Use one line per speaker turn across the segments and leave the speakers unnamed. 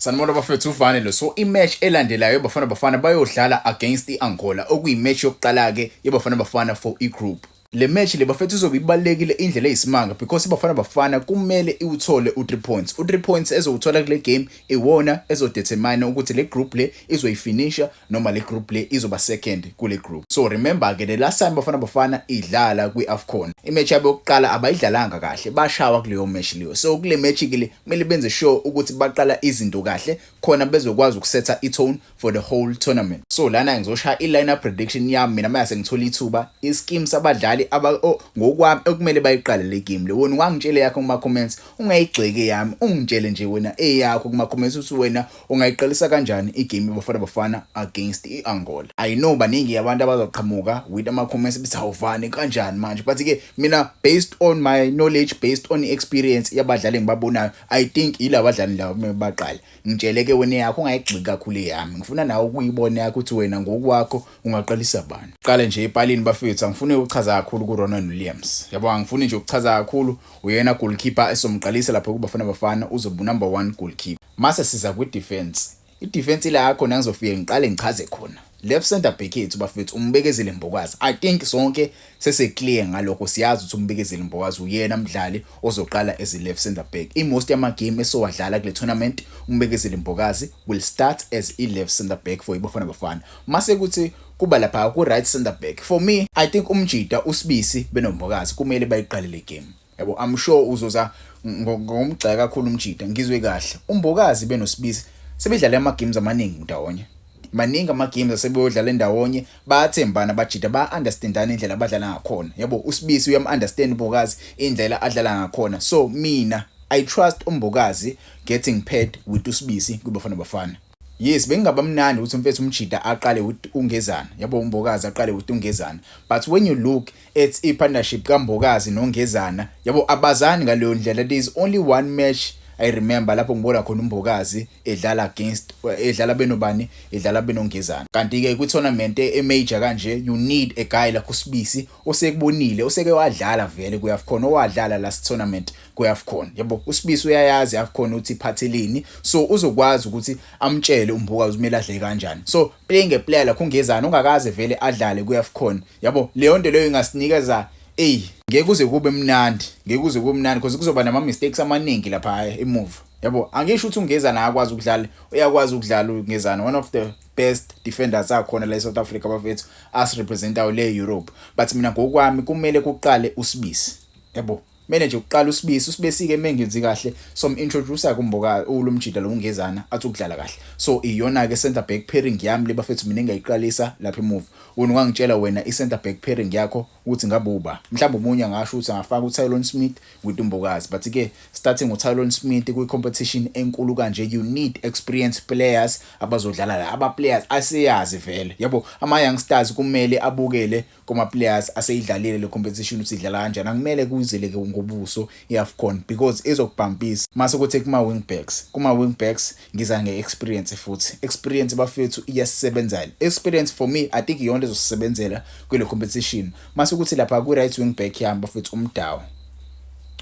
Sanibona bafethu uvane lo so imatch elandelayo bafana bafana bayodlala against iAngola okuyimatch yokuqala ke yebafana bafana for igroup le match le bafethu izobe ibalekile indlela eyisimanga because ibafana bafana kumele iwuthole u3 points u3 points ezowuthola kule game iwona ezodetermine ukuthi le group le izoyifinisha noma le group le izoba second kule group so remember ke the last time bafana bafana idlala kwi-afcon imatch yabo yokuqala abayidlalanga kahle bashawa kuleyo match leyo so kule match ke le kumele benze sure ukuthi baqala izinto kahle khona bezokwazi ukusetha i-tone for the whole tournament so lana ngizoshaya i-lineup prediction yami mina mase ngithola ithuba isikimu sabadlali ngokwami okumele bayiqale le game le wona ungangitshele yakho kuma-comments ungayigxeki yami ungitshele nje wena eyakho kuma-comments ukuthi wena Ungayiqalisa kanjani igame Bafana Bafana against i-Angola? I know baningi abantu abazoqhamuka with ama-comments bethi awuvani kanjani manje but ke mina based on my knowledge based on experience yabadlali engibabonayo I think yila badlali lawo kumele baqale ngitshele ke wena yakho ungayigxiki kakhulu eyami ngifuna nawe ukuyibona yakho ukuthi wena ngokwakho ungaqalisa bani qale nje epalini bafethu angifuni ukuchaza kakhulu ku-Ronwen Williams yabo angifuni nje ukuchaza kakhulu uyena goalkeeper esomqalisa lapho kuBafana Bafana uzoba number 1 goalkeeper Mase siza kwi defense. I defense ila khona ngizofike ngiqale ngichaze khona. Left center back yethu bafethu umbekezile Mbokazi. I think sonke sese clear ngalokho siyazi ukuthi umbekezile Mbokazi uyena mdlali ozoqala as left center back. I most yama game esowadlala kule tournament umbekezile Mbokazi will start as i left center back for ibafana bafana. Mase kuthi kuba lapha ku right center back. For me I think umjita usibisi benombokazi kumele bayiqale le game. Yabo I'm sure uzoza ngomgxeka kakhulu umjita ngizwe kahle. Umbokazi benosibisi sebedlale ama games amaningi ndawonye. Maningi ama games asebeyodlala ndawonye bayathembana bajita ba understandana indlela abadlala ngakhona. Yabo usibisi uyam understand umbokazi indlela adlala ngakhona. So mina I trust umbokazi getting paired with usibisi kubafana bafana. Yes bekungaba mnandi ukuthi mfethu umjida aqale with uNgezana yabo uMbokazi aqale with uNgezana but when you look at i partnership kaMbokazi noNgezana yabo abazani ngaleyo ndlela there is only one match I remember lapho ngibona khona uMbokazi edlala against edlala benobani edlala benongezana kanti ke kwi tournament e major kanje you need a guy like uSibisi osekubonile oseke wadlala vele kuyakhona owadlala last tournament kweAfcon yabo uSibisi uyayazi iAfcon uthi iphathelini so uzokwazi ukuthi amtshele umbuka uzimela adle kanjani so playing a player lakho ungezana ungakaze vele adlale kweAfcon yabo leyo nto leyo ingasinikeza ey ngeke kuze kube mnandi ngeke kuze kube mnandi because kuzoba nama mistakes amaningi lapha emuva yabo angisho ukuthi ungezana akwazi ukudlala uyakwazi ukudlala ungezana one of the best defenders akhona la eSouth Africa bafethu as representayo le Europe but mina ngokwami kumele kuqale usibisi yabo Kumele nje uqala usibisi usibesike mengenzi kahle so introduce kumboka ulumjida lo ungezana athi ukudlala kahle so iyona ke center back pairing yami lebafethu mina engayiqalisa lapha emuva wena ungangitshela wena i center back pairing yakho ukuthi ngabuba mhlawumbe umunye angasho ukuthi angafaka uTylon Smith with umbokazi but ke starting uTylon Smith kwi competition enkulu kanje you need experience players abazodlala la aba players asiyazi vele yabo ama youngsters kumele abukele kuma-players aseyidlalile le competition ukuthi idlala kanjani akumele kuzeleke ngobuso i-afcon because izokubhampisa mase kuthi kuma-wing backs kuma-wing backs ngiza nge-experience futhi experience bafethu iyasisebenzela experience for me i think iyona ezosisebenzela kule competition mase kuthi lapha kwi-right wing back yami bafethu umdawu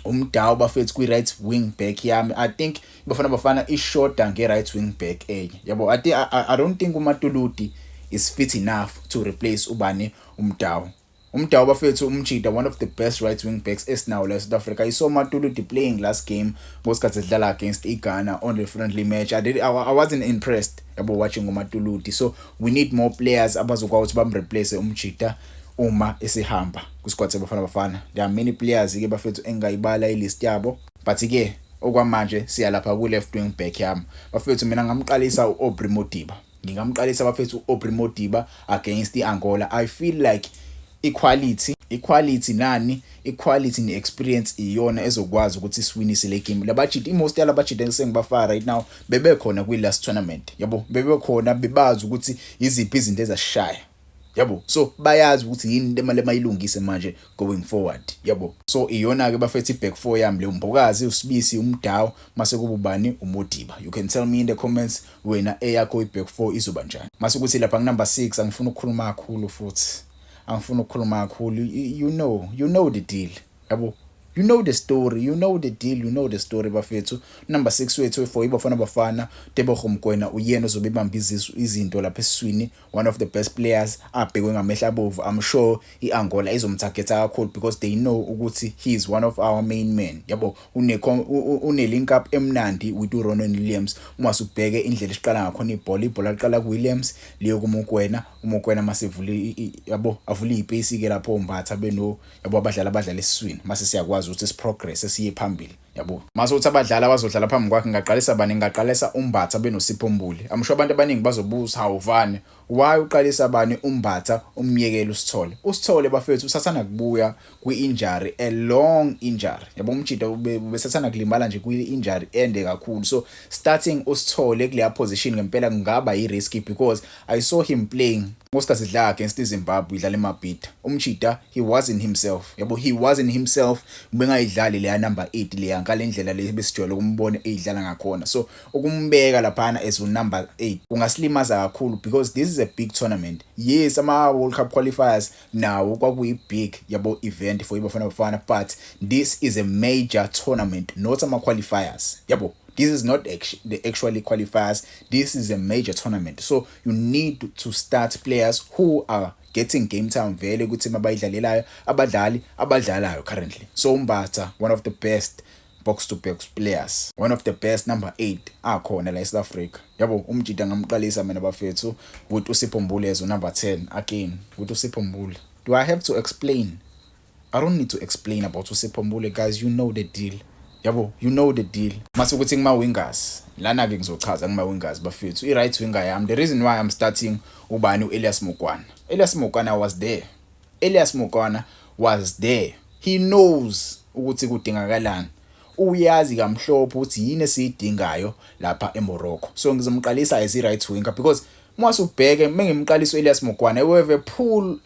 umdawu bafethu kwi-right wing back yami i think Bafana Bafana ishoda nge-right wing back enye yabo I, I, I don't think umatuludi is fit enough to replace ubani umdawu umdawu bafethu umjida one of the best right wing backs esinawo la south africa i saw matuludi playing last game ngosikhathi edlala against ighana on the friendly match i, did, I, I wasn't impressed yabo watching umatuludi so we need more players abazokwazi ukuthi bamreplace umjida uma esihamba kwisquad sebafana bafana there are many players ke bafethu engayibala ilist yabo But ke okwamanje siya lapha ku left wing back yami bafethu mina ngamqalisa uAubrey Modiba ngingamqalisa bafethu uAubrey Modiba against iAngola i feel like equality equality nani equality ne-experience iyona ezokwazi ukuthi isiwinise le game labajidi imost yalabajidi esengibafaka right now bebekhona kwi-last tournament yabo bebekhona bebazi ukuthi yiziphi izinto ezasishaya yabo so bayazi ukuthi yini into emali emayilungise manje going forward yabo so iyona ke bafethu iback four yami le umbokazi usibisi umdawo mase kububani umodiba you can tell me in the comments wena eyakho iback four izoba njani mase ukuthi lapha nginumber 6 angifuni ukukhuluma kakhulu futhi angifuni ukukhuluma kakhulu you know you know the deal yabo you know the story you know the deal you know the story bafethu number 6 wethu for ibafana bafana Tebogo Mkwena uyena ozobe ibamba izinto lapha esiswini one of the best players abhekwe ngamehla abovu i'm sure i-angola izomthagetha kakhulu because they know ukuthi he is one of our main men yabo une-link up emnandi with uronan williams uma subheke indlela esiqala ngakhona ibhola ibhola liqala kuwilliams liyo kumukwena umukwena masivule yabo avule iy'peyisi-ke lapho mbatha beno yabo abadlali abadlala esiswini mase siyakwazi ukuthi siprogress siye phambili yabo mase uthi abadlali abazodlala phambi kwakhe ngingaqalisa bani ngingaqalisa umbatha benosipho mbuli amusho abantu abaningi bazobuza hawuvani why uqalisa bani umbatha umyekela usithole usithole bafethu usathana kubuya kwi-injury a long injury yabo umjida ubesathana kulimala nje kwi-injury ende kakhulu so starting usithole kuleya position ngempela kungaba yi-risky because i saw him playing ngosikhathi idlala against izimbabwe idlala emabhida umjida He wasn't himself. Yabo he wasn't himself ubengayidlali leya number 8 leya ngalendlela le besijwayele ukumbona eyidlala ngakhona. So ukumbeka laphana as u number 8 kungasilimaza kakhulu because this is a big tournament. Yes ama World Cup qualifiers nawo kwakuyi big yabo event for iBafana Bafana but this is a major tournament not ama qualifiers. Yabo this is not actually the actually qualifiers this is a major tournament so you need to start players who are getting game time vele ukuthi mabayidlalelayo abadlali abadlalayo currently so umbatha one of the best box to box players one of the best number 8 akhona la eSouth Africa yabo umjida ngamqalisa mina bafethu ukuthi usipho mbulezo number 10 again ukuthi usipho mbule do i have to explain I don't need to explain about uSipho Mbule guys you know the deal yabo you know the deal mase ukuthi ngima wingers lana ke ngizochaza ngima wingers bafethu i right winger yami the reason why i'm starting ubani uElias Mokwana Elias Mokwana was there Elias Mokwana was there he knows ukuthi kudingakalani uyazi kamhlophe ukuthi yini esiyidingayo lapha eMorocco so ngizomqalisa as i right winger because Mwase ubheke mengimqalisa uElias Mokwana we have a pool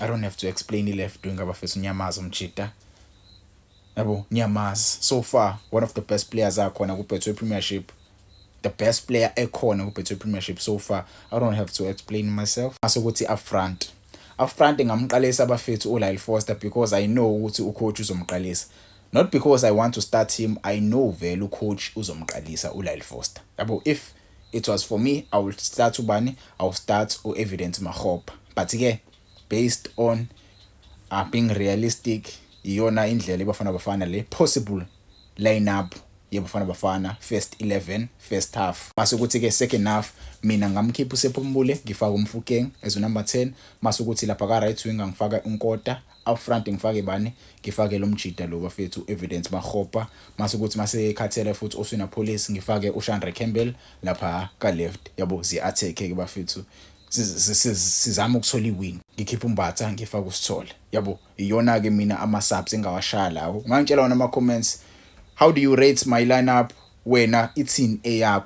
I don't have to explain i left wing abafethu unyamaza umjita yabo nyamaza so far one of the best players akhona ku Betway Premiership the best player ekhona ku Betway Premiership so far I don't have to explain myself asokuthi up front up front ngamqalisa abafethu uLyle Foster because I know ukuthi ucoach uzomqalisa not because I want to start him I know vele ucoach uzomqalisa uLyle Foster yabo if It was for me I will start ubani I will start u Evidence Makgopa but ke based on uh, being realistic iyona indlela ibafana bafana le possible lineup yebafana bafana first 11 first half mase ukuthi ke second half mina ngamkhipha uSephumbule ngifaka umfukeng as number 10 mase ukuthi lapha ka right wing ngifaka unkota Up front ngifake bani? Ngifake lo mjita lo bafethu Evidence Makgopa mase kuthi mase ekhathele futhi Oswina Police ngifake uShandre Campbell lapha ka left yabo zi attack ke bafethu sizama ukuthola iwin ngikhipha umbatha ngifaka usithole yabo iyona ke mina ama subs engawashaya lawo ungangitshela wona ama comments how do you rate my lineup wena ithini eyakho